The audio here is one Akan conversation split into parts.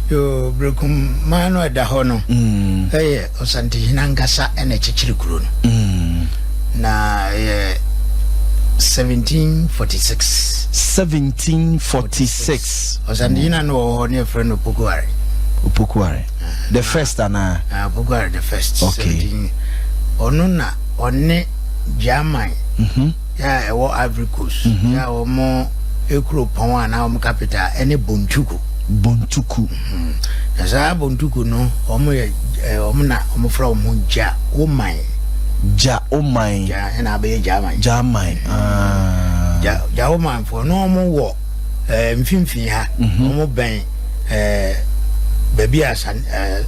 Yoo, Berekum man no a ɛda hɔ no yɛ Ɔsantehene ankasa na ɛkyekyere kuro no. Na ɛyɛ 1746. 1746. Ɔsantehene no wɔ hɔ ne ɛfrɛ no Opokuare. Opokuare. The first anaa? Ah, Opokuare the first. Okay. Ɔno na ɔne German. Mm-hmm. yɛ a ɛwɔ Ivory Coast, mhm. yɛ a wɔn ekuropɔn a na wɔn capital ɛne Bontuku. Bontuku. Mhm. Na saa Bontuku no, wɔn yɛ ɛɛ wɔn na wɔn fura wɔn ho gya oman. Gya oman. Gya ɛna abɛyɛ gya aman. Gya aman. Mhm. Ah. Gya gya oman fo na wɔn wɔ ɛɛ mfimfini ha. Wɔn bɛn ɛɛ baabi a san ɛɛ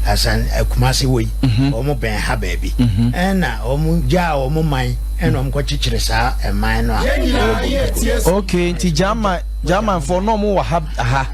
asan ɛkumase wɔ yi. Wɔn bɛn ha baabi. Ɛna wɔn gya wɔn man. ɛna ɔmo kɔ kyekyere saa ɛman no a ɛwɔ Bontokoro. ok nti german german fɔ na ɔmo wɔ ha ha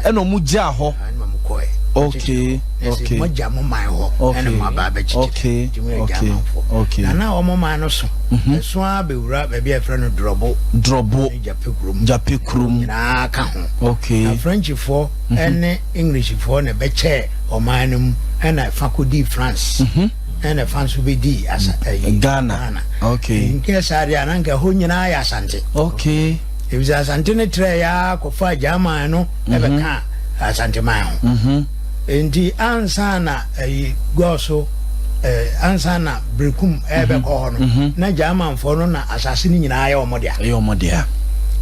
ɛna ɔmo gyaa hɔ. ɛna ɔmo kɔ ɛ. ok ok ɛsɛ mo gya mo man hɔ ɛna mo aba abɛ kyekyere nti mo yɛ german fɔ na na ɔmo man no so ɛso mhm. ara bɛ wura baabi a yɛfrɛ no drɔbo drɔbo ne jape kurom jape kurom nyinaa ka ho ok na french fɔ mhm. ɛne english fɔ na ɛbɛ kyɛ ɔman no mu ɛna ɛfa kɔ di france. Mhm. ɛna fa nso bɛdii asa ayi Ghana. Ghana. Okay. Nkɛ saa deɛ a na nka ɛhɔ nyinaa yɛ Asante. Okay. Efisɛ Asante no trɛɛ yaa kɔfaa Gyaman no ɛbɛka Asante man ho. Enti ansa na ayi gɔɔ so eh, ansa na Berekum ɛbɛkɔ hɔ no na Gyamanfoɔ no na asase no nyinaa yɛ wɔn dea. Ɛyɛ wɔn dea.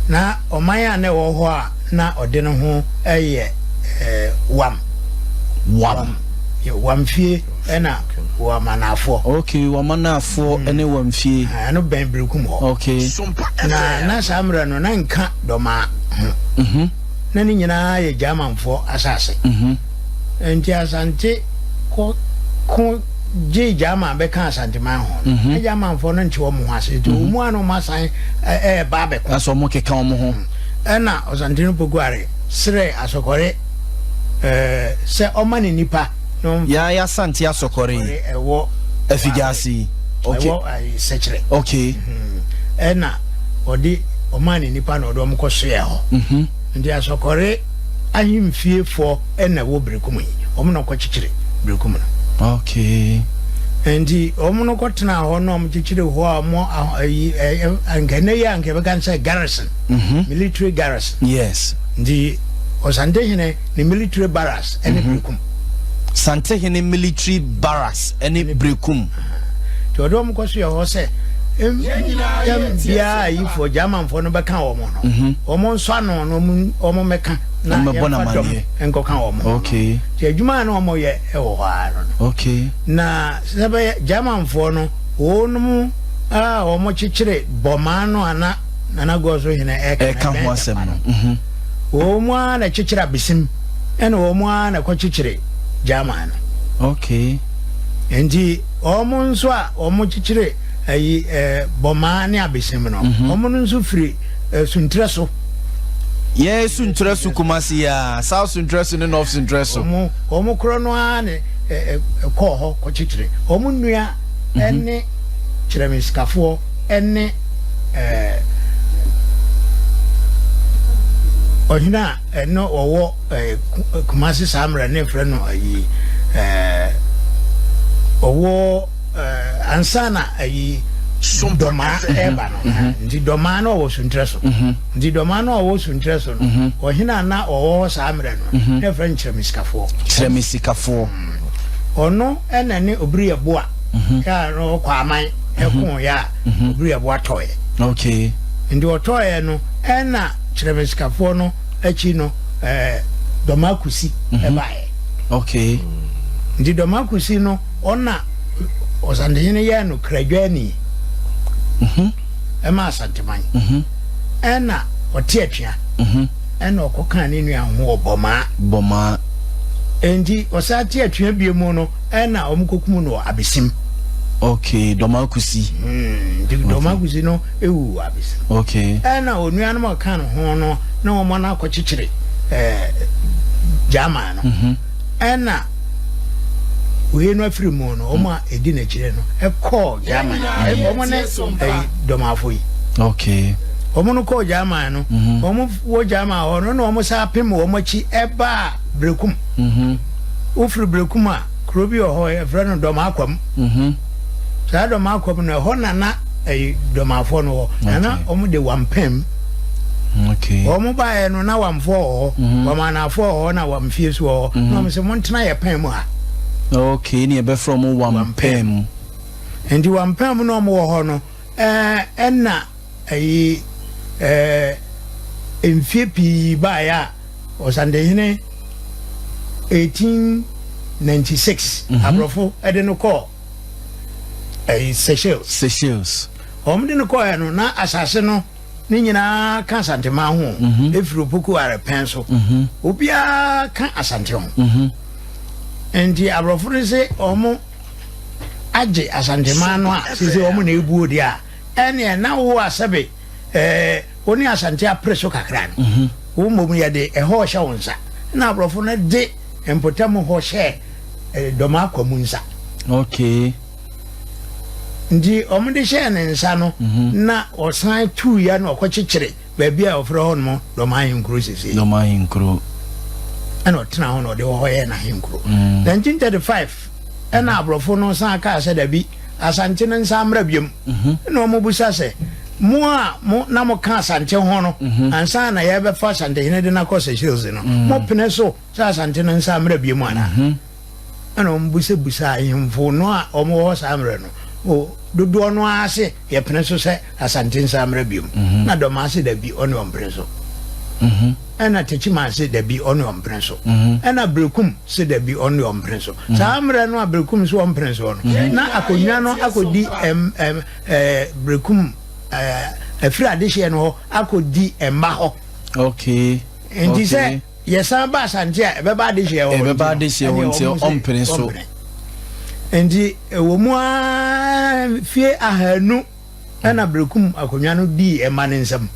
Na ɔman a na ɛwɔ hɔ a na ɔde ne ho ɛyɛ eh, Wam. Wam. Wam fie. Ɛna Wamanafoɔ. Ok, Wamanafoɔ ne Wamfie. Ahaa, ɛno bɛn Berekum hɔ. Ok. Na na saa mmerɛ no na nka Dɔmaa ho. Mhm. Na ne nyinaa yɛ Gyamanfoɔ asase. Mhm. Nti Asante kɔ ko gyee Gyaman bɛka Asanteman ho no, na Gyamanfoɔ no nte wɔn ho ase. Nti wɔn a na wɔn asan ɛ ɛɛba abɛko. Na sɛ wɔn keka wɔn ho. Ɛna Ɔsantene Pokuare srɛɛ Asɔkɔre ɛɛ sɛ ɔma ne nnipa. Yaa ya santi asɔkɔre yi. Ɛwɔ. Afidiase yi. Okay. Ɛwɔ ayi sɛkyerɛ. Okay. Ɛna ɔde ɔmaa ne nipa na ɔde ɔmo kɔ so yɛ hɔ. Nti asɔkɔre ahemfie foɔ ɛna ɛwɔ Berekum yi. Ɔmo na ɔkɔ kyekyere Berekum no. Okay. Nti ɔmo no kɔ tena hɔ na ɔmo kyekyere hɔ a ɔmo ayi ɛyɛ nka ɛnɛ yi a nka ɛbɛka sɛ garrison. Military garrison. Yes. Nti ɔsantehene. ne military barracks ne mhm. Berekum. Santehene military barracks ne Berekum. Nti ɔde wɔn kɔ so yɛ hɔ sɛ yɛm biara ayifoɔ Germanfoɔ no bɛka wɔn no mhm. wɔn nsɔ ano no wɔn mmɛka na yɛmfa dɔm nkɔka wɔn ho nti adwuma a na wɔn yɛ wɔ hɔ ara no na sɛ bɛyɛ Germanfoɔ no wɔn mu a wɔn kyekyere bɔmaa no ana Nana Goɔ so hene ɛka ho asɛm no mhm. wɔn mu ara na ɛkyekyere abesim ɛna wɔn mu ara na ɛkɔ kyekyere German no okay nti wɔn nso a wɔn kyekyere ayi ɛɛ bɔmaa ne abesim no mhm. wɔn no nso firi ɛɛ suntrɛ so. yɛ suntrɛ so kumasi ya south suntrɛ so ne north suntrɛ so. wɔn wɔn korɔ no ara ne ɛɛ ɛkɔɔ hɔ kɔ kyekyere wɔn nua mhm. ɛne kyerɛmisikafoɔ. ne ɔhene a ɛno ɔwɔ kumase saa mmerɛ ne mfrɛ no ayi ɔwɔ ansa na ayi dɔmaa ɛreba no mhm. nti dɔmaa no ɔwɔ suntrɛ so mhm. nti dɔmaa no ɔwɔ suntrɛ so no mhm. ɔhene a na ɔwɔ hɔ saa mmerɛ no ne mfrɛ no kyerɛmisikafoɔ kyerɛmisikafoɔ ɔno ɛna ne obiri ɛboa mhm. yɛ a na ɔkɔ aman ɛko mhm. yɛ a mhm. obiri ɛboa tɔɔyɛ okay nti ɔtɔɔyɛ no ɛna kyerɛmɛsikafoɔ no akyi no ɛɛ dɔmakusi ɛbaeɛ okay nti dɔmakusi no ɔna ɔsantehene yɛ no kradwani ɛma asanteman ɛna ɔte atua ɛna ɔkɔ kan ne nua ho ɔbɔmaa bɔmaa nti ɔsan te atua bie mu no ɛna wɔn kokum no wɔ abesim. okay dɔmakusi. Hmm, nti dɔmakusi no ewu wɔ abesim. okay ɛna onuanom a ɔka no ho no na wɔn ana akɔkyekyere ɛɛ german no mhm. ɛna wei no afiri mu no wɔn a edi n'akyire no ɛkɔɔ german wɔn ne ɛyi dɔmafo yi. okay wɔn no kɔɔ german no mhm. wɔn wɔ german hɔ no na wɔn san apem wɔn akyi ɛbaa. Berekum. Wofiri Berekum a, kuro bi wɔ hɔ, yɛfrɛ no Dɔmakwam. Saa Dɔmakwam no, ɛhɔ na na ɛyi Dɔmafoɔ no wɔ. Na na wɔn de Wampam. Wɔn baeɛ no, na Wamfoɔ wɔ hɔ, mhm. Wamanafoɔ wɔ hɔ, na Wamfie so wɔ hɔ. Mhm. Na wɔn sɛ, montena yɛ pɛn mu ha. Okay, ne ɛbɛfrɛ wɔn Wampam. Nti Wampam na wɔn wɔ hɔ no, ɛɛ ɛna. Eyi ɛɛ mfie pii baeɛ a Ɔsandehene 1896 aborɔfo de no kɔɔ ɛɛ Seychelles. Seychelles. Wɔn de no kɔɔɛ no na asase no ne nyinaa ka Asanteman ho. Efiri Opoku Arepɛn so. Obiara ka Asante ho. Nti aborɔfo no se wɔn agye Asanteman no a sese wɔn na ebuo deɛ a. Ɛneɛ na wo a sɛbe eh, wo ne Asante apere so kakra no, wo mmom yɛde ɛhɔ rehyɛ wo nsa, ɛna aborɔfo no de mpɔtam hɔ hyɛ eh, Dɔmakwa mu nsa. Okay. Nti wɔn de hyɛɛ ne nsa no, na ɔsan tuu ya na ɔkɔkyekyere baabi a wɔfrɛ hɔ nom Dɔmahenkuro sesei. Dɔmahenkuro. Ɛna ɔtena hɔ na ɔde hɔ yɛ n'ahenkuro. 1935 ɛna aborɔfo no san kaa sɛ dabi, Asante no nsan mmra biom. Ɛna wɔbisa sɛ, Mo a mo na moka Asante ho no, ansa na yɛrebɛfa Asantehene de no akɔ Seychelles no, mopene so sɛ Asante no nsan mmra biom anaa? Ɛna wɔbisabisaa ahemfo no a wɔwɔ hɔ saa mmerɛ no, dodoɔ no ara se, Yɛpene so sɛ Asante nsa mmra biom na Dɔmaa se dabi ɔne ɔmpene so ɛna Takyimaa se dabi ɔne ɔmpene so ɛna Berekum se dabi ɔne ɔmpene so. Saa mmerɛ no a Berekum se ɔmpene soɔ no na akonwa no akɔdi ɛm ɛm ɛɛ Berekum ɛɛ afiri adehyeɛ no hɔ akɔdi mma hɔ. Okay. Nti sɛ yɛsan ba Asante a ɛbɛba adehyeɛ hɔ. Ɛbɛba adehyeɛ hɔ nti ɔmpene so. Nti ɛwɔ mu aa fie ahanu. ɛna berekum akonnwa no dii ɛma no nsam.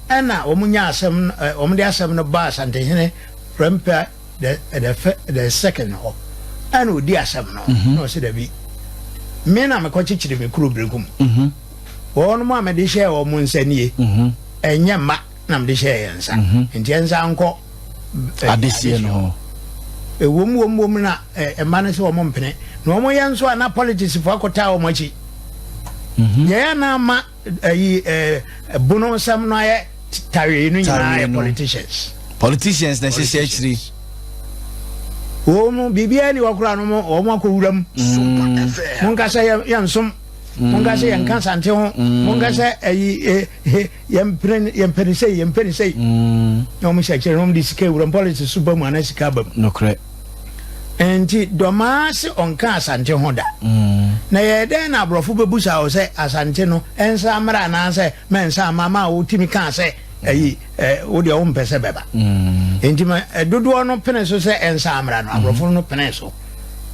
Ɛna wɔn nya asɛm wɔn de asɛm no baa Asantehene Prempeh the the the second hɔ. Ɛna odi asɛm no na ɔsi dabi. Me na mekɔ kyekyere me kuro berekum. Wɔn a mede hyɛɛ wɔn nsa nie. Ɛnyɛ mma. na mede hyɛɛ yɛn nsa nti ɛnsan nkɔ adesie no hɔ ɛwom wom wom na ɛma no sɛ wɔn mpene na wɔn yɛ nso a na politics fo akɔtaa wɔn akyi yɛyɛ na ama ayi bono nsɛm no ayɛ tawee no nyinaa yɛ politicians politicians na ɛhyehyɛ akyiri wɔn biribiara ni wɔkora no wɔn akɔ wura mu monkasa yɛn nsom monkasa yɛn nka sante ho monkasa ayi Yɛmpene no, yɛmpɛ no sei, yɛmpɛ no sei. Na wɔn hyɛ kyerɛ na wɔn de sika ewura mu, politics so ba mu anaa sika aba mu. Nokorɛ. Nti Dɔmaa se ɔnka Asante ho da. Na yɛyɛ dɛn na aborɔfo bɛbusa wo sɛ Asante no nsan mmra anaasɛ mɛnsan mma ma wotumi kaa sɛ ayi wo deɛ wompɛ sɛ bɛba. Nti ma dodoɔ no pene so sɛ ɛnsan mmra no, aborɔfo no penee so.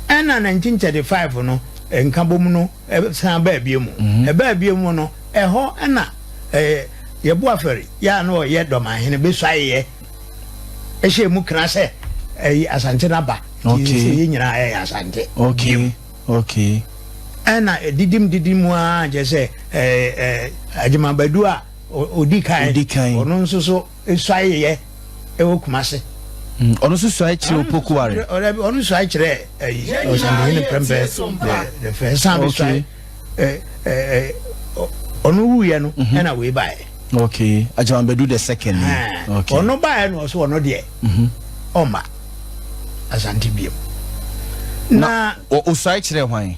Ɛna 1935 no nkabom no. san baa bio mu. Ɛbaa bio mu no, ɛhɔ na Yɛboafɛre yɛ a na ɔyɛ Dɔmanhene besuaeɛ hyɛɛ mu kena sɛ ɛyi Asante no aba. Nti sɛ yɛ nyinaa yɛyɛ Asante bio. Ɛna didim didim mu ara kyerɛ sɛ Agyemang Badu a ɔdi kan ɔno nso so suae yɛ wɔ Kumase. Mm, ɔno nso suae kyerɛ Opoku Ware. Ɔno suae kyerɛ ɛyi eh, Ɔsandehene Prɛmpɛ the first. San bi suae eh, eh, ɔno wuiɛ no mhm. ɛna wei baeɛ. Okay, Ajawambadu the second. Okay. Ɔno baeɛ no ɔso ɔno deɛ mhm. ɔma Asante biam. Na ɔsuae kyerɛ hwan?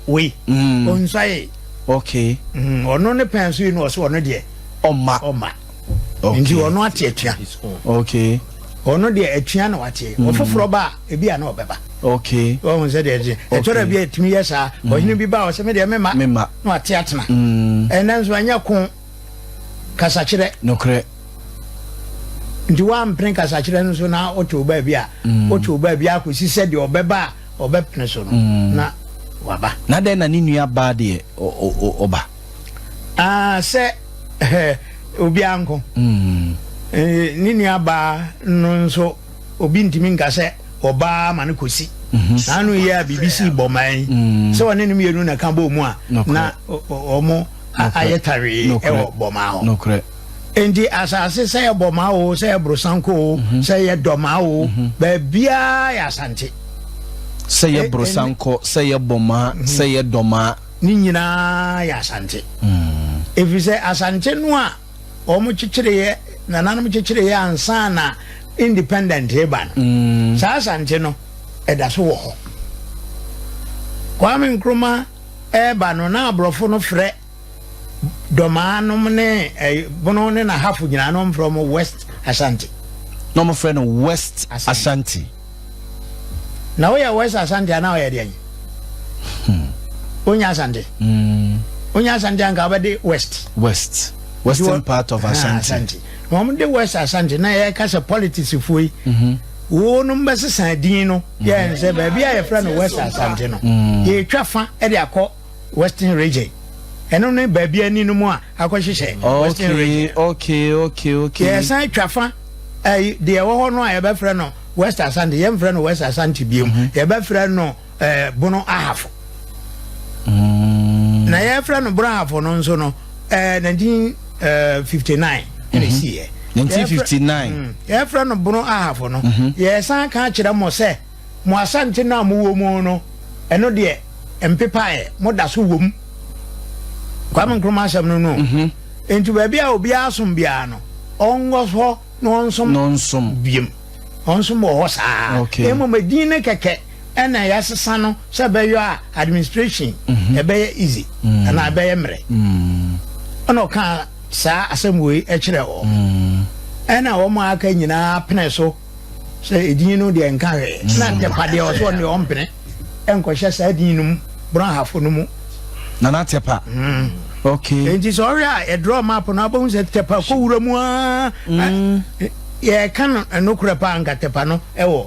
Wei, mm. ɔnsuae. Okay. Mm, ɔno ne pɛn so yi no ɔso ɔno deɛ ɔma. Ɔma. okay. nti ɔno ate atua okay. ɔno deɛ atua na wateɛ mm. ɔfoforɔ ba a ebi a na ɔbɛba okay. ɔhu sɛ deɛ ɛteɛ ɛtɔrɔ bi a ɛtumi yɛ saa mm. ɔhene bi ba a ɔsɛ me deɛ mema na wate atena mm. ɛnɛ nso anyɛ ko kasakyerɛ nokorɛ nti wampene kasakyerɛ no so na ɔte wo baabi a ɔte wo baabi a kɔsi sɛ deɛ ɔbɛba a ɔbɛpene so no na waba na dɛn na ne nua baa deɛ ɔba ah, sɛ eh, obiara nko mm. eh, ne nuabaa no nso obi ntumi nka sɛ ɔbaa ma no kɔsi mhm. saa no yɛ a biribi sii bɔman yi mm. sɛ ɔne no mmienu na ka bɔɔ mu a na ɔmo ayɛ tawee ɛwɔ bɔmaa hɔ nti asase sɛ yɛ bɔmaa o sɛ yɛ borosanko o mhm. sɛ yɛ dɔmaa o mhm. baabiaa yɛ asante sɛ yɛ borosanko sɛ yɛ bɔmaa sɛ yɛ dɔmaa ne nyinaa yɛ Asante. Ɛfiri sɛ Asante no a wɔkyekyereeɛ, nananom kyekyereeɛ ansa na independent reba no, saa Asante no, ɛda so wɔ hɔ. Kwame Nkrumah reba no, na aborɔfo no frɛ Domaa nom ne Bono ne Nahafo nyinaa na wɔfrɛ wɔn West Asante. Na wɔfrɛ no West Asante. na woyɛ west asante anaa ɔyɛ deɛ hmm. wonya asante hmm. wonya asante anka wobɛde west west western part of asante na wɔn de west asante na yɛka sɛ politics foɔ yi mhm. wɔnom bɛsesa din no yɛn sɛ baabi a yɛfrɛ no west asante no hmm. yɛtwa fa de akɔ Western Region. Ɛno ne baabi ani no mu a akɔhyehyɛ Western Region. Okay, okay, okay, okay. Yɛsan twa fa ɛyi deɛ ɛwɔ hɔ no a yɛbɛfrɛ no West Asante. Yɛmfrɛ no West Asante bio. Mm -hmm. Yɛbɛfrɛ no eh, Bono Ahafo. Mm. Na yɛfrɛ no Bono Ahafo no nso no eh, 1959 eh, ɛna mm-hmm. ɛsiiɛ. 1959. Mm. Yɛfrɛ no Bono Ahafo no. Mm-hmm. Yɛsan ka kyerɛ mo sɛ mo asante no a mowɔ mu no, ɛno deɛ mpepaeɛ, moda so wɔ mu. Kwame Nkrumah asɛm no no. Mhm. Enti baabi a obiara som biara no, ɔnkɔ hɔ na ɔnsom. Na ɔnsom. Biem. Ɔnsom wɔ hɔ saa. Okay. Mmom edin no kɛkɛ ɛna yɛasesa no sɛ ɛbɛyɔ a administration mhm. ɛbɛyɛ easy mhm. anaa ɛbɛyɛ mmerɛ. Ɛna ɔka saa asɛm wei ɛkyerɛ hɔ. Ɛna wɔn a aka nyinaa pene so. sɛ edin no deɛ nka hwee mm. na ntepa deɛ ɔsɛ ɔne ɔmpene ɛnkɔhyɛ saa din no mu borɔhafo no mu nana tepa mm. okay enti sɛ ɔhwɛ a ɛdrɔ map no abɛhu sɛ tepa kɔ wura mu aa mm. yɛka no ɛnokorɛ paa nka tepa no ɛwɔ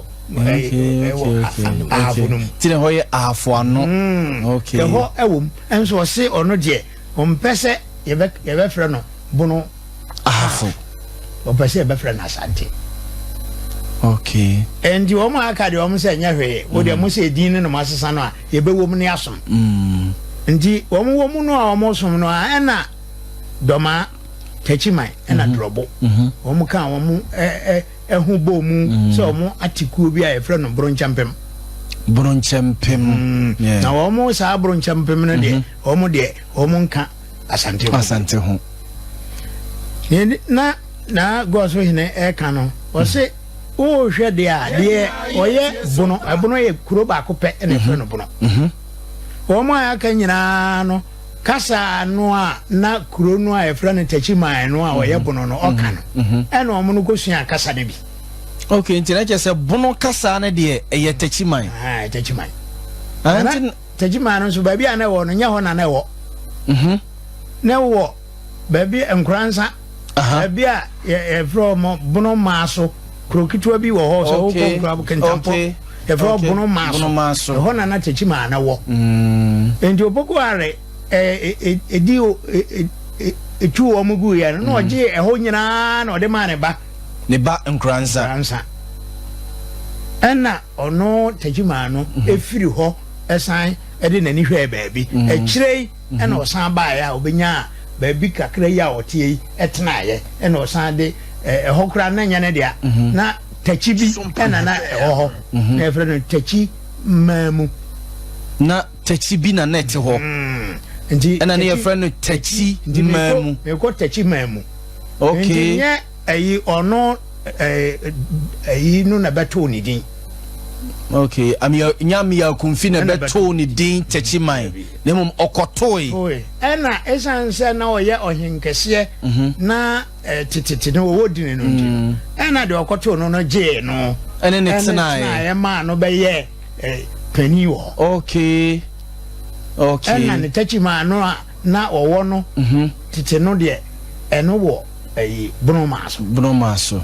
ahafo no mu tiri hɔ yɛ ahafo ano ɛhɔ ɛwɔ mu ɛnso ɔse ɔno deɛ Ɔmpɛ sɛ yɛbɛfrɛ no Bono Ahafo. Ɔpɛ sɛ yɛbɛfrɛ no Asante. Okay. Ɛnti wɔn a aka deɛ wɔn sɛ nyɛ hwee. Wo deɛ mm. mo sɛ edin no na mo asesa no a yɛbɛwɔ mu ne asom. Mm. Nti wɔn wɔ mu no a wɔn som no a ɛna dɔmaa takyiman ɛna mhm. dorɔbo. Mhm. Wɔn ka wɔn ɛɛ ɛho bɔ mu mm. sɛ wɔn ate kuo bi a yɛfrɛ no boronkyɛmpem. Boronkyɛmpem. Na wɔn saa boronkyɛmpem no deɛ. Mhm. Wɔn deɛ wɔn nka Asante ho. Asante ho. Nti na na gɔɔso hene ɛka no ɔse wohwɛ deɛ a deɛ ɔyɛ bono ɛbono yɛ kuro baako pɛ ɛna ɛfrɛ no bono. Mhm. Wɔn a aka nyinaa no kasa no a na kuro no a ɛfrɛ no Takyiman no a mhm. ɔyɛ bono no ɔka no mhm. ɛna wɔn no kɔsua kasa no bi. ok nti na kyerɛ sɛ bono kasa no deɛ ɛyɛ Takyiman. Ah, Takyiman. Tegyimah no nso, baabi a na ɛwɔ no, nyɛ hɔ na na ɛwɔ. Mhm. Na ɛwɔ baabi Nkoransa, Aha. baabi a yɛ- yɛfrɛ hɔ mɔ Bono Maaso. Kuro ketewa bi wɔ hɔ sɛ wokɔ Okay. Nkurabo Kintampɔ. Okay. Yɛfrɛ hɔ Okay. Bono Maaso. Bono Maaso. Ɛhɔ na na Tegyimah no wɔ. Mm. Enti Opoku Are ɛ- ɛ- ɛ- ɛdi o- ɛ- ɛ- ɛ- ɛtu wɔn guiɛ no, na ɔgyee ɛhɔ nyinaa na ɔde maa ne ba. Ne ba Nkoransa. Nkoransa. Ɛna ɔno Tagyimaa no firi hɔ san de n'ani hwɛɛ baabi. Akyire yi na ɔsan baeɛ a ɔbɛnyaa baabi kakra yi a ɔteɛ yi tenaeɛ. Ɛna ɔsan de, ɛhɔ koraa na ɛnyɛ ne dea. Na takyi bi na na ɛwɔ hɔ. Na yɛfrɛ no takyi mmaa mu. Na Tɛkyi bi na na ɛte hɔ. Nti ɛna ne yɛfrɛ no Tɛkyi man mu. Mekɔ Tɛkyi man mu. Okay. Nti nyɛ ɛyi ɔno ɛyi no na bɛtoo ne din. Okay. Amia nya Amia Kumfi na bɛtoo ne din Tɛkyi man. Na mmom ɔkɔtoe. Ɛna esan sɛ na ɔyɛ ɔhenkɛseɛ mhm. na tetete no ɔwɔ dini no nti no. Mm. Ɛna deɛ ɔkɔtoo no no gyee no. Ɛne ne tenaeɛ. Ɛne tenaeɛ maa no bɛyɛ. eh, panin wɔ hɔ. Okay. Okay. Ɛna ne takyimaa no a na ɔwɔ no mhm. tete no deɛ ɛno wɔ ɛyi eh, bonomaa so. Bonomaa so.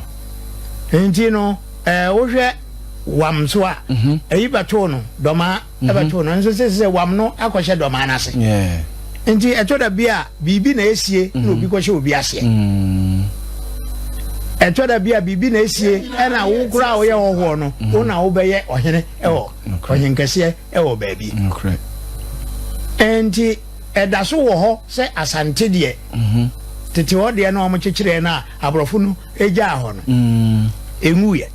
Nti no ɛɛ eh, wohwɛ wam so a mhm. ɛyi bɛtoo no dɔmaa mhm. ɛbɛtoo no nso sɛ sɛ wam no akɔhyɛ dɔmaa no ase. Yeah. Nti ɛtɔ da bi a biribi na esie na mhm. obi kɔhyɛ obi aseɛ. Mm. Ɛtɔ da bi a biribi na esie ɛna wo kura a woyɛ ɔhɔɔ no mhm. wo na wobɛyɛ ɔhene ɛwɔ ɔhenkɛseɛ ɛwɔ baabi. Nti ɛda so wɔ hɔ sɛ asante deɛ mhm. tete hɔ deɛ na wɔn kyekyerɛ no a aborɔfo no gyaa hɔ no enwuiɛ.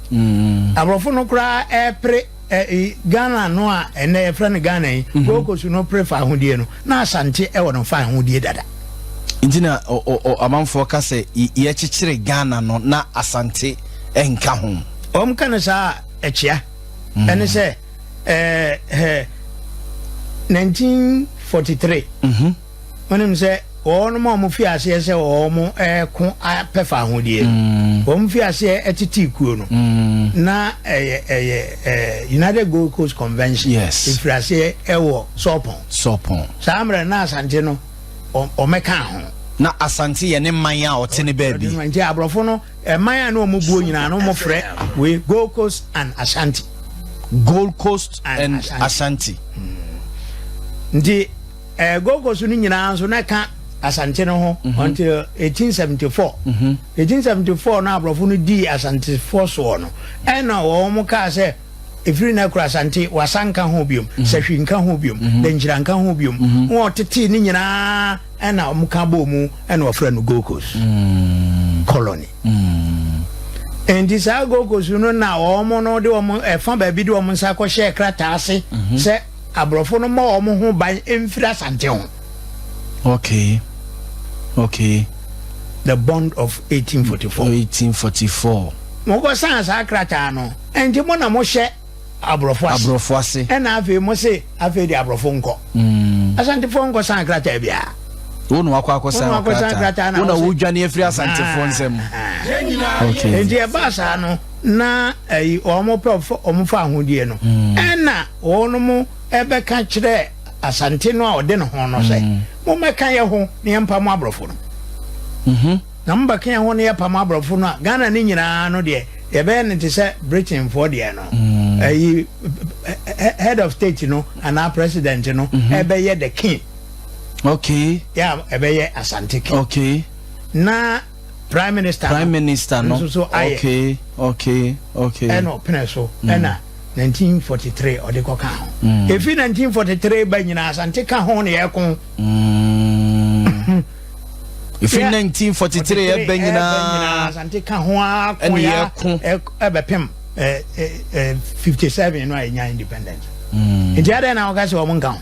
Aborɔfo no koraa ɛpere. Ɛɛ Ghana no a ɛnnɛ yɛfrɛ no Ghana yi, Gold Coast no pere fawohodie no, na Asante wɔ no fawohodie dada. Nti na amanfoɔ ka sɛ yɛkyekyere Ghana no na Asante nka ho. Wɔn ka no saa a, ɛkyea. Mm. Ɛne sɛ ɛɛ 1943. wonim sɛ wɔnom a wɔfii aseɛ sɛ wɔreko apɛ fahodie no mm. wɔfii aseɛ tetee kuo no mm. na ɛyɛ ɛyɛ eh, united gold coast convention ɛfiri aseɛ ɛwɔ sɔpɔn sɔpɔn saa mmerɛ na asante no ɔmɛka ho na asante yɛ ne man a ɔte ne baabi nti aborɔfo no ɛman a ne ɔmubuo nyinaa no mofrɛ wei gold coast and ashanti gold coast and ashanti, ashanti. Mm. nti Eh, Gold Coast no nyinaa nso na ɛka Asante no ho mhm. until 1874. Mhm. 1874 no aborɔfo no dii Asantefoɔ soɔ no, ɛna wɔn kaa sɛ ɛfiri no akura Asante wasa nka ho biom, mhm. sahwi nka ho biom, dankyira nka ho biom. Wɔn ɔtetee no nyinaa ɛna wɔn ka bɔɔ mu ɛna wɔfrɛ no Gold Coast mm. colony. Mm. nti saa Gold Coast no na wɔn no de wɔn ɛfa baabi de wɔn nsa kɔhyɛ krataa ase sɛ abrɔfo no mmɔ wɔn ho ban mfiri Asante ho. Okay. Okay. The bond of 1844. 1844. Mo kɔ san saa krataa no. Ɛnti mo na mo hyɛ abrɔfo ase. Abrɔfo ase. Ɛna afei mo se afei de abrɔfo nkɔ. Mm. Asantefo nkɔ san krataa biara. Wo na wakɔ akɔ san krataa. Wo na wo dwane afiri asantefo ah. nsɛm. Okay. Ɛnti ɛbaa saa no na ɛyi eh, wɔn pɛ wɔn fa ahodeɛ no. Mm. Ɛna. Wɔnom bɛka kyerɛ Asante no a ɔde ne ho no sɛ, Mommɛka yɛ ho na yɛmpamo aborɔfo no. Mhm. Na mobɛka yɛ ho na yɛpamo aborɔfo no a, Ghana no nyinaa no deɛ, yɛbɛyɛ no te sɛ Britainfoɔ deɛ no. Mm. Ayi, head of state no anaa president no mhm. ɛbɛyɛ the king. Okay. Yeah, ɛbɛyɛ Asante king. Okay. Na Prime minister no. Prime minister no. Nso so ayɛ. Okay okay okay. Ɛna ɔpene so mm. ɛna. Mm. 1943 ɔde kɔ ka ho mm. efi 1943 ba nyinaa asante ka ho na yɛko efi 1943 ɛbɛ nyinaa asante ka ho ako ya ɛbɛpem 57 no a yɛnya independence mm. nti adɛn na wɔka sɛ wɔn nka ho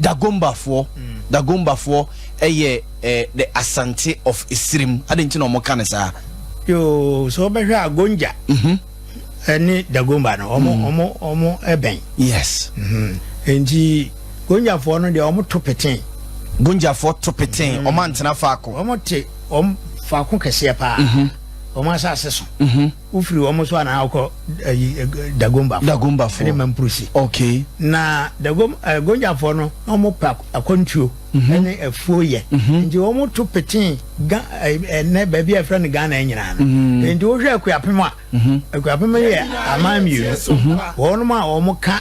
Dagombafoɔ, Dagombafoɔ yɛ the Asante of Esirim, adɛn nti na wɔka no saa? Yoo, sɛ wobɛhwɛ a Gonja ne Dagomba no wɔn bɛn. Yes. Nti Gonjafoɔ no deɛ wɔto petee. Gonjafoɔ to petee, wɔantena faako. Wɔte wɔn faako kɛseɛ paa, wɔn asase so. wofiri wɔn so anaa wokɔ ayi eh, eh, dagombafo dagombafo ɛne mampurusi okay na dagom eh, gonjafoɔ no na wɔn pɛ akwantuo mhm. ɛne afuo yɛ mhm. nti wɔn to peten ga ɛnɛ baabi a yɛfrɛ no ghana nyinaa no mhm. nti wohwɛ akuapem a akuapem yɛ aman mmienu wɔn a wɔn ka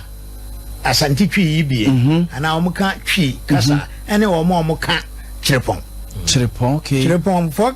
asante twi yi bie anaa wɔn ka twi kasa ɛne wɔn a wɔn ka kyerepɔn kyerepɔn okay kyerepɔn fɔ.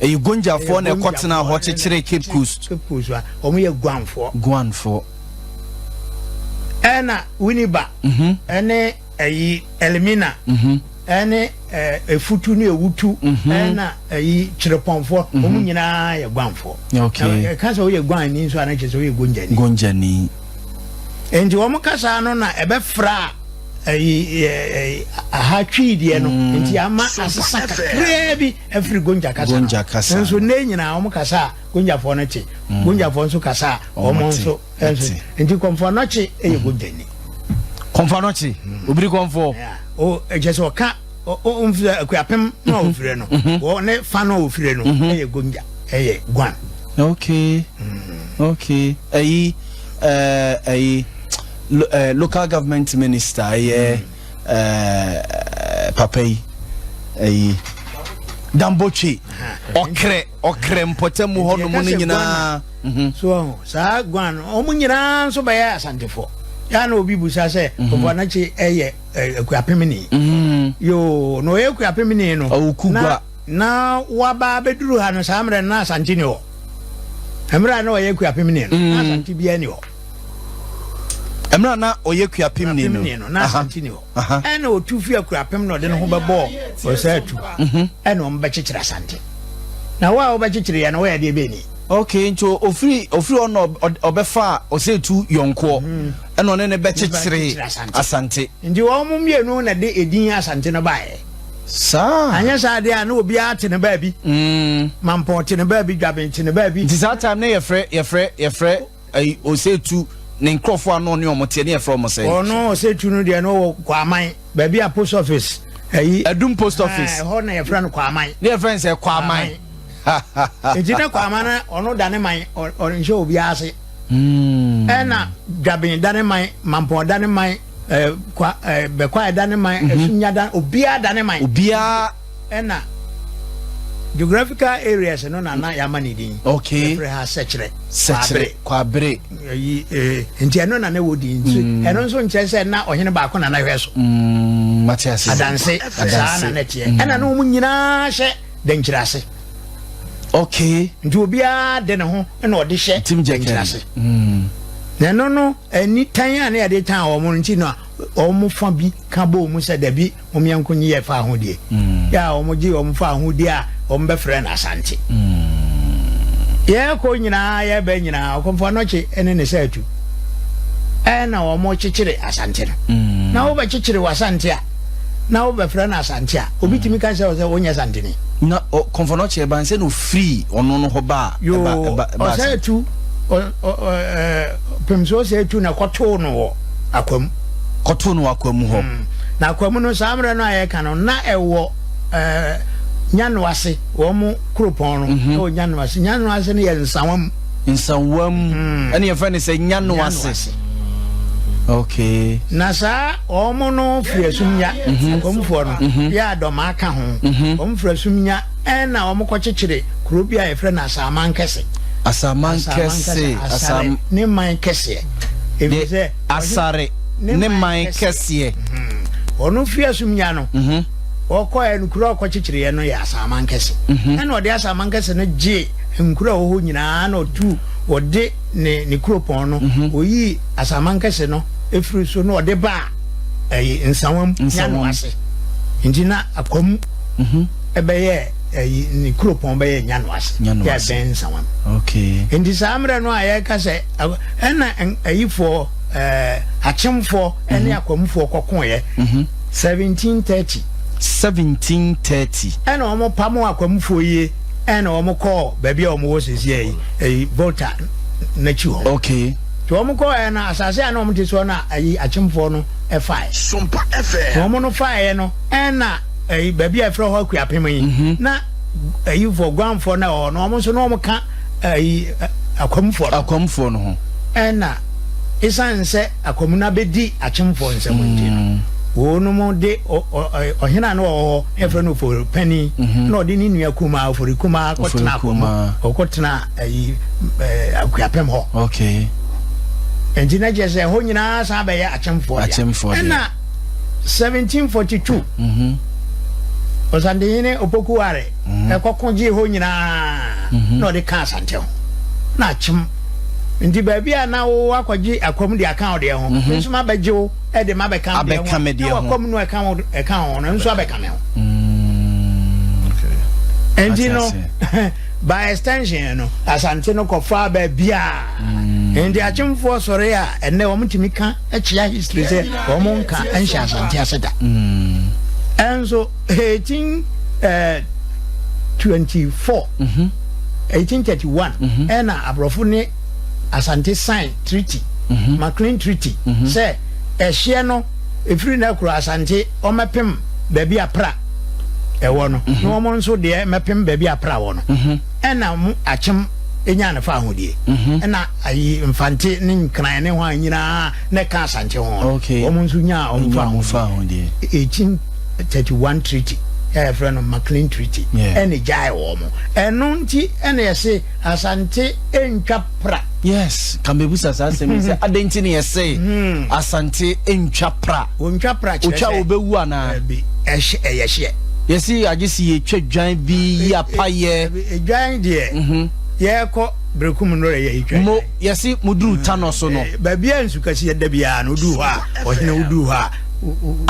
Ɛyɛ Gonjafoɔ na ɛkɔtenaa hɔ kyekyeree Cape Coast. Cape Coast a, wɔn yɛ Guanfoɔ. Guanfoɔ. Ɛna Winneba mhm. ɛne ɛyi Elmina mhm. ɛne Efutu ne Ewutu mhm. ɛna ɛyi Kyerepɔnfoɔ wɔn nyinaa yɛ Guanfoɔ. Ɛka sɛ wɔyɛ Guan ni nso anakyɛ sɛ wɔyɛ Gonjani. Gonjani. Nti wɔn kasa no na ɛbɛfra ɛyi ɛyi aha twi deɛ no nti ama asesa kakraa bi. Ɛfiri Gonja kasa no. Gonja kasa Nanso no. nnɛ nyinaa wɔn kasa a Gonjafoɔ no te. Gonjafoɔ nso kasa a wɔn Wɔn te, nso nso. ɛte. Nti Kɔmfoɔnɔkye yɛ Gonjani. Kɔmfoɔnɔkye, obiri kɔmfoɔ. Yeah. O ɛkyɛ sɛ ɔka o- o- ɔmfiri Akuapem na ɔfiri no. Wɔ ne fa na ɔfiri no ɛyɛ Gonja ɛyɛ Guan. Okay. Okay. Ɛyi, ɛɛ, ɛyi, lo- ɛɛ, local government minister ɛyɛ ɛɛ papa yi ɛyi dambotwe ɔkrɛ ɔkrɛ mpɔtam hɔ nom no nyinaa. Mhm. so saa guan no wɔn nyinaa nso bɛyɛ asantefo yaa na obi busa sɛ mhm. ɔbɔ n'akyi ɛyɛ akuapemini mhm. yoo na ɔyɛ akuapemini no na na waba abɛduru ha no saa mmerɛ no na asante ni hɔ mmerɛ a na ɔyɛ akuapemini no na asante biara ni hɔ. mmerɛ a na ɔyɛ kuapemni no na asante ni hɔ ɛna ɔtu fi akuapem na ɔde ne ho bɛbɔɔ ɔsɛ atu mhm. ɛna ɔm bɛkyekyere asante na wo a wobɛkyekyere yɛ no woyɛ deɛ bɛni ok nti ofiri ofiri hɔ na ɔbɛfa ɔsɛ tu yɔnkoɔ mhm. ɛna ɔne ne bɛkyekyere asante nti wɔn mu mmienu na de edin asante no baeɛ saa anyɛ saa deɛ a na obiara te ne baabi mm. mampɔ te ne baabi dwaben te ne baabi nti saa time ne yɛfrɛ yɛfrɛ yɛfrɛ Ɛyi Osetu ne nkurɔfoɔ a na ɔne wɔn teɛ ne yɛfrɛ wɔn sɛn? Ɔno Osetu no deɛ na ɔwɔ Kwaman baabi a post office ɛyi. Ɛdum post office. Ɛhɔ na yɛfrɛ no Kwaman. Ne yɛfrɛ no sɛ Kwaman. Eti na Kwaman na ɔno da ne man ɔnhyɛ obiara ase. Hmm. Ɛna Dwaben da ne man Mampɔn da ne man ɛɛ kwa ɛɛ Bɛkwae da ne man mhm. Ɛsunya da obiara da ne man. Obiara. Ɛna geographical areas no na na yɛama ne din. Okay. Ɛfrɛ ha sɛkyerɛ. Sɛkyerɛ kwabere. Ɛyi ee eh, nti ɛno na na ɛwɔ din. Nti mm. ɛno nso nkyɛn sɛ na ɔhene baako na na hwɛ so. Mm, mate ase. Adanse saa na na teɛ. Mm. Ɛna na wɔn nyinaa hyɛ dɛnkyerɛ ase. Okay. Nti obiara de ne ho na ɔde hyɛ dɛnkyerɛ ase. Na ɛno no ɛni tan a na yɛde tan wɔn nti na wɔn fa bi ka bɔ wɔn sɛ dabi. wɔn yɛnko nneyɛɛ faa ho deɛ, yɛ a wɔgyee wɔn faa ho di a wɔbɛfrɛɛ no Asante. Yɛrekɔ nyinaa, yɛreba nyinaa, Okomfo Anokye ne ne saatu na wɔkyekyere Asante no. Na wobɛkyekyere w'Asante a, na wobɛfrɛ no Asante a, obi tumi ka sɛ sɛ wonyɛ Santene. Na Okomfo Anokye ɛba nsɛ na ofirii ɔno no hɔ baa Asante? Yoo, ɔsaatu, Pemso ɔsaatu na ɛkɔtoo no wɔ. akwa mu. Kɔtoo no wɔ akwa mu hɔ. Mm. Na akwa mu no, saa mmerɛ no a yɛreka no, na ɛwɔ ɛɛ Nyanoase, wɔn mo kuropɔn no mm-hmm. ɛwɔ Nyanoase. Nyanoase no yɛ nsawa mu. Nsawa mu. Mm. Ɛne yɛfrɛ no sɛ Nyanoase. Okay. Na saa wɔn no firi asumnya, mm-hmm. wɔn foɔ no, mm-hmm. yɛ adɔmaa ka ho, wɔn firi asumnya. Ɛnna wɔkɔkyekyeree kurow bi a wɔfrɛ no Asamankɛse. Asamankɛse, Asare ne man kɛseɛ. Efisɛ Asare ne man kɛseɛ. Wɔn mfeasumnya no, wɔkɔeɛ no, kuro a wɔkɔkyekyereeɛ no yɛ Asamankɛse. Ɛnna ɔde Asamankɛse no gyee nkuro a ɛwɔ hɔ nyinaa, ɛnna ɔtuu ɔde ne ne kuropɔn no, ɔyii Asamankɛse no firii so na ɔde baa ɛyi, Nsawam, Nyano ase. Enti na Akwamu. bɛyɛ ayi ne kuropɔn bɛyɛ nyano ase yɛ bɛn nsawa okay nti saa mmerɛ no a yɛka sɛ ɛna ayifoɔ ɛɛ akyemfoɔ ɛne mhm. akɔmfoɔ kɔkoeɛ 1730 mhm. 1730 ɛna wɔn pam akɔmfoɔ yie ɛna wɔn kɔɔ baabi a wɔn wɔ sisi ɛyi ɛyi volta n'akyi hɔ okay tí wɔn kɔɔ yɛ no asase a na wɔn ti soɔ na ayi akyemfoɔ no ɛfae sompa ɛfɛ wɔn no faeɛ no ɛna. ɛyi baabi a yɛfrɛ hɔ Akuapem yi mhm. na ɛyifoɔ guanfoɔ no a ɛwɔ no wɔn nso na wɔn ka ɛyi akwamfoɔ no akwamfoɔ no ho ɛna esan sɛ akwamu no abɛdi akyemfoɔ nsɛm nti no mm. wɔnom de ɔhene a na wɔwɔ hɔ ɛfrɛ no ofori panin mhm. na ɔde ne nua kumaa ofori kumaa kɔtena akwamu ɔkɔtena ɛyi Akuapem hɔ nti na kyerɛ sɛ ɛhɔ nyinaa san bɛyɛ akyemfoɔ deɛ ɛna 1742, Ɔsantehene Opoku Ware kɔko gyee hɔ nyinaa na ɔde kaa Asante ho. Na akyem nti baabi a na wo akɔgye akwam de aka wo deɛ ho, me nso mabɛgye wo de mabɛka me deɛ ho, na w'akwam no a ɛka wo ho no nso abɛka me ho. Nti no, by extension no, Asante no kɔfaa baabi a nti akyemfoɔ sɔre a ɛnnɛ wɔtumi ka kyia history sɛ wɔn nka nhyɛ asante ase da ɛnso eighteen eh, twenty four mhm. eighteen thirty one mhm. ɛna aborɔfo ne asante sign treaty mhm. maclean treaty sɛ ɛhyeɛ no efiri na kuro asante wɔmɛpem baabi apra ɛwɔ no na wɔn nso deɛ mɛpem baabi apra wɔ no. Nna mu akyem nyaa ne faahodie. Nna ayi Mfantse ne Nkran ne hɔn nyina na ɛka Asantse ho no, wɔn nso nyaa wɔn faahodie. Ekyin 'thirty one treaty' a yɛfrɛ no Maclean Treaty na egyae wɔn. Ɛno nti na yɛse Asantse ntwa. pra. Yes, ka mebisa saa asɛm yi sɛ adɛn nti ne yɛse hmm. Asante ntwa pra. Ontwa pra kyerɛ sɛ. Otwa wobɛwu anaa? Ɛbi, ɛhyɛ, ɛyɛ hyeɛ. Yɛsi agye si yɛtwa dwan bi yi apayɛ. Dwan deɛ, mhm. yɛkɔ berekum no yɛ yɛtwa. Mo, yɛsi mo duru hmm. tanɔ so no. Eh, baabi a nsu kasi ɛda biara no, woduru hɔ a, ɔhene woduru hɔ a.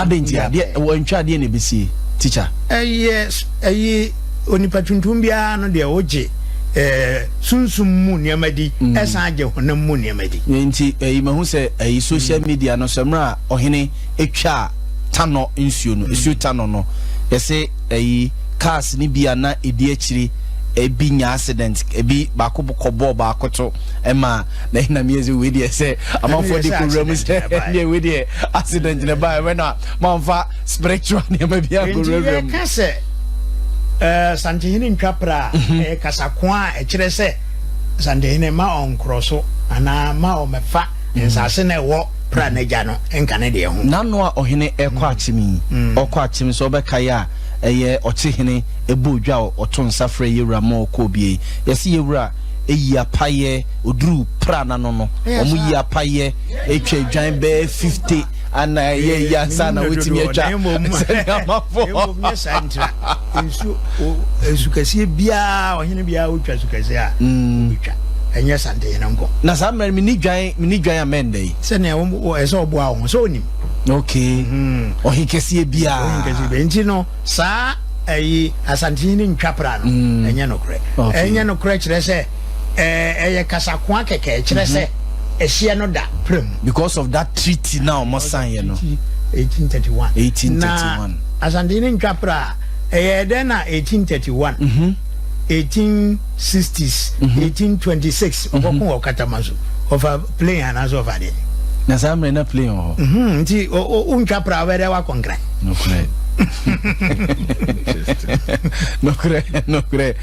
Adɛn nti adeɛ, wɔntwa adeɛ na ɛbɛsie, teacher? Ɛyɛ, ɛyi. Onipa tuntum biara no deɛ, ɔgye eh, sunsum mu nneɛma di, ɛsan gye honam mu nneɛma di. Yei nti, eh, mahu sɛ eh, social media no sɛ mmerɛ a ɔhene ɛtwaa Tanɔ nsuo no, ɛsuo Tanɔ no, yɛse eh, cars no bi a na ɛdi akyiri ebi nya accident ebi baako kɔ bɔɔ baako to ɛma na ɛna mi ɛsɛ wei deɛ sɛ amanfoɔ de kɔ wura mu sɛ ɛdeɛ wei deɛ accident na ɛba ɛbɛ na manfa spiritual nneɛma bi akɔwurawura mu. Nti yɛka sɛ ɛɛ Santehene ntwa pra a mhm. ɛyɛ kasako a ɛkyerɛ sɛ Santehene ma ɔnkorɔ so anaa ma ɔmɛfa mhm. nsase na ɛwɔ pra mhm. n'agya no nka ne deɛ ho. N'ano a ɔhene ɛkɔ akyem yi ɔkɔ akyem sɛ ɔbɛka yɛ a ɛyɛ ɔkye hene ɛbɔ odwa a ɔto nsa frɛ yɛwura ma ɔkɔ obie yi yɛsi yɛwura eyi apayɛ oduru pra n'ano no wɔn yi apayɛ atwa adwan bɛɛ fifty. anaa ɛyɛ yi ansa na wotumi atwa sɛnea amafo mmom nyɛ saa ntira nsuo nsukɛseɛ biara ɔhene biara wotwa sukɛseɛ a mm. wobɛtwa ɛnyɛ santehene nkɔ na saa mmerɛ mene dwan mene dwan a mɛndɛ yi sɛnea ɛsɛ ɔboa wo ho sɛ ɔnim ok mhm. ɔhenkɛseɛ biara nti no saa ɛyi asantehene ntwa pra no mm. ɛnyɛ nokorɛ ɛnyɛ nokorɛ kyerɛ sɛ Ɛɛ ɛyɛ kasakoa kɛkɛ ɛkyerɛ sɛ ɛhyeɛ no da prɛm. because of that treaty na wɔn san yɛ no. eighteen thirty one eighteen thirty one na asante ne ntwa pra ɛyɛ ɛdɛn na eighteen thirty one mhm. eighteen sixties mhm. eighteen twenty six mhm. ɔkɔko wɔ katama so ɔfa plane anaasɛ ɔfa deɛ. na saa mmerɛ na plane wɔ hɔ. nti o ntwa pra ɔbɛ dɛ wakɔ nkran. nokorɛ nokorɛ nokorɛ.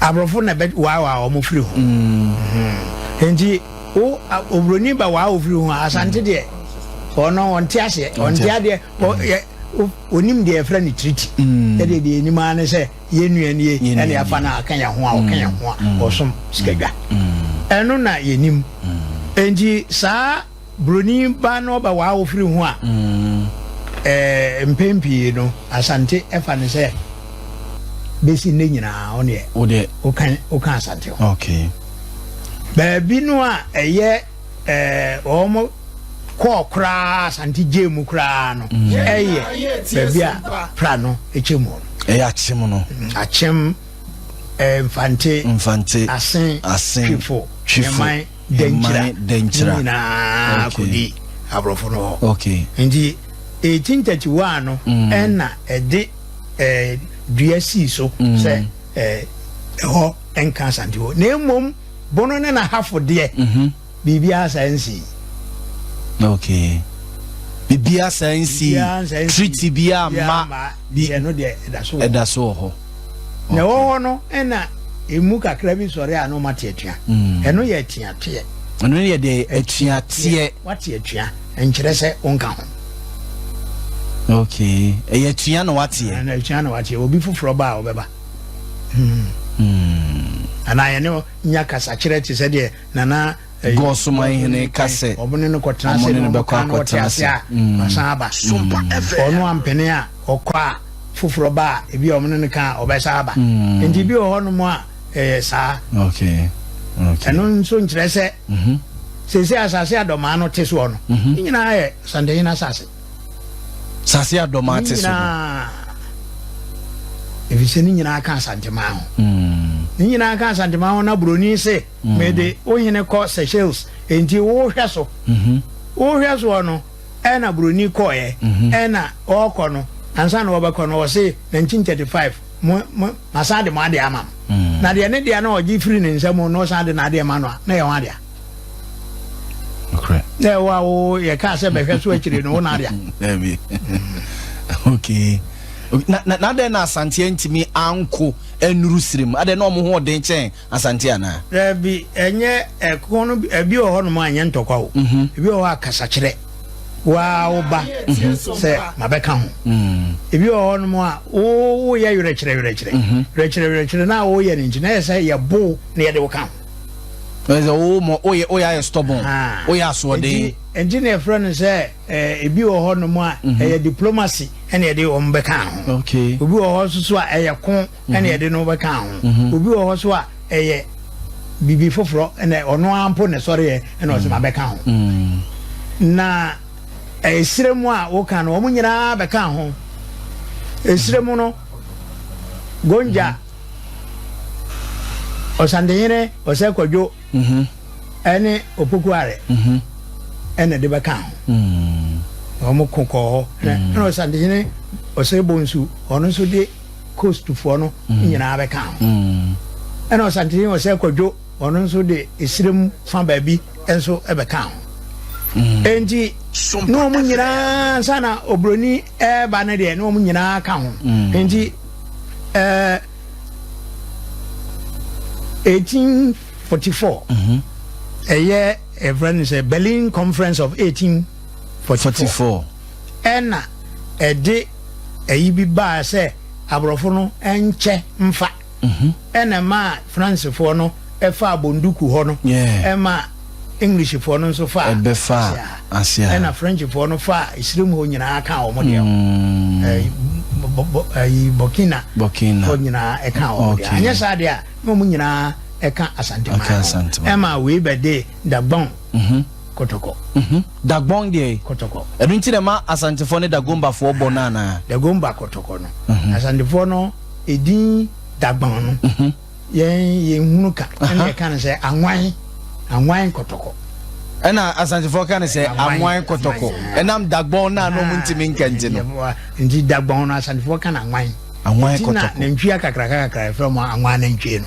aborɔfo na ɛbɛ waawaa wɔn firi ho mm-hmm. nti wo oburoni ba waa ofiri ho asante deɛ ɔno ɔnte aseɛ ɔnte adeɛ onim deɛ ɛfrɛ no tiriti mm. ɛdeɛ deɛ anim ara ne sɛ yɛnnua nie ɛne afa no a ɔka yɛn ho a ɔka yɛn ho a mm. ɔsom sikadwa mm. ɛno na yɛnim nti saa Buroni baa no ɔba w'awofiri ho a, eh, mpɛn pii no, Asante ɛfa no sɛ bɛsi nnɛ nyinaa ɔneɛ Wodeɛ. woka woka Asante ho. Okay. Baabi no a ɛyɛ eh, wɔn kɔɔ koraa Asante gyee mu koraa no, ɛyɛ baabi a pra no ɛkyɛ mu no. Ɛyɛ akyem no. Akyem, eh, Mfante, Mfante, Asen, Asen, Twifo, Twifo. Nyɛman. dɛnkyira dɛnkyira nyinaa kɔdi aborɔfo no hɔ nti 1831 no mm. ɛna ɛde eh, dua sii so mm. sɛ eh, ɛhɔ nka asante hɔ na mmom bono ne n'ahafo deɛ mhm. biribiara saa nsi okay biribiara saa nsi treaty biara ma ɛda so wɔ hɔ Na ɛwɔ hɔ no ɛna emu kakra bi sɔre a na ɔma te atua. Mm. Ɛno yɛ atuateɛ. Ɛno yɛ de atuateɛ. Wate atua nkyerɛ sɛ wonka ho. Okay. Ɛyɛ atua na wateɛ. Ɛna atua na wateɛ. Obi foforɔ ba a ɔbɛba. Hmm. Hmm. Anaa yɛne nya kasakyerɛ te sɛ deɛ nana Gos man hene ka sɛ wɔne no kɔkɔ akɔtena ase a, ɔno ampene a, ɔkɔ a, foforɔ ba a, ebi a wɔne no ka a, ɔbɛsan aba. Enti ebi wɔ hɔnom a, ɛyɛ saa. Ɛno nso nkyerɛ sɛ seesei asase a dɔmaa no te soɔ no, ne nyinaa yɛ Asantehene asase. Asase a dɔmaa te so no. Ɛfiri sɛ ne nyinaa ka Asanteman ho. Ne nyinaa ka Asanteman ho na buroni se. Mede wo hene kɔ Seychelles, enti wo hwɛ so. Wo hwɛ soɔ no, ɛna buroni kɔeɛ, ɛna ɔɔkɔ no, ansa na ɔɔbɛkɔ no, ɔse 1935, mo, mo, masan de mo adeɛ ama mo. Na deɛ ne dea no a ɔgye firi ne nsa mu no, ɔsan de n'adeɛ ma no a, na ɛyɛ ho adea. Dɛ wo a wo yɛkaa sɛ bɛhwɛ so akyire no, wo na adea. Daabi. Okay. Na, na, na adɛn na Asanteɛ ntumi anko nnuru Sirim? Adɛn na wɔn ho ɔden kyɛn Asante anaa? Daabi, ɛnyɛ ɛko no bi, ɛbi wɔ hɔnom a ɛnyɛ ntɔkwa o, mhm. ebi wɔ hɔ a kasakyerɛ waa wo ba mhm. sɛ mabɛka ho, mhm. ebi wɔ hɔnom a woyɛ werɛkyerɛ werɛkyerɛ werɛkyerɛ werɛkyerɛ na woyɛ no nti na ɛyɛ sɛ yɛbo na yɛde wo ka ho. Ɛsɛ wo mɔ oyɛ oyɛ ayɛ stubborn oyɛ asoɔden. Nti na ɛfrɛ no sɛ ebi wɔ hɔnom a ɛyɛ diplomacy ɛna yɛde wɔn bɛka ho. Obi wɔ hɔ nso so a ɛyɛ ko ɛna yɛde no bɛkaa ho obi wɔ hɔ so a ɛyɛ biribi foforɔ ɛna ɔno ara mpo na ɛsɔreɛ ɛna ɔsɛ ma bɛka ho na ɛsrɛ mu a woka no wɔn nyinaa bɛka ho ɛsrɛ mu no gonja ɔsandehene ɔsɛ kwadwo ɛne opokuare ɛna de bɛka ho wɔn ko kɔɔ hɔ ɛna ɔsandehene ɔsɛ bonsu ɔno nso de coastfoɔ no mm. nyinaa bɛka ho mm. ɛna ɔsantini ɔsɛ kwadwo ɔno nso de esirim fa baabi nso bɛka ho mm. enti ne wɔn nyinaa nsa na obroni ɛreba no deɛ ne wɔn nyinaa ka ho enti ɛɛ eighteen forty four mhm. ɛyɛ ɛfrɛ no sɛ berlin conference of eighteen. 44. Ɛna ɛde ayi bi baa sɛ aborɔfo no nkyɛ mfa. Ɛna ɛmaa Fransefoɔ no faa Bonduku hɔ no, ɛma Englishfoɔ no nso faa Asia ha, ɛna Frenchfoɔ no faa Esirim hɔ nyinaa kaa wɔn deɛ hɔ. Burkina hɔ nyinaa ɛkaa wɔn deɛ. Anyɛ saa deɛ a, na wɔn nyinaa ɛka Asante man no. Ɛma wei bɛde Dagbon Mhm. Kotoko. Mhm. Dagbon deɛ e. Kotoko. Ɛno nti na ɛma Asantefoɔ ne Dagombafoɔ bɔ no anaa? Dagomba Kotoko no. Mhm. Asantefoɔ no edin Dagbon no, Mhm. yɛn yɛnhunu ka. Aha. Ɛna yɛka no sɛ Anwan, Anwan Kotoko. Ɛna Asantefoɔ ka no sɛ Anwan, Anwan Kotoko. Anwan, aha. Ɛnam Dagbon no a na wɔn ntumi nka nti no. Aha. Nti Dagbon no Asantefoɔ ka no Anwan. Anwan Nti na Kotoko. nantwie akakraka kakra a yɛfrɛ wɔn Anwan anantwie no.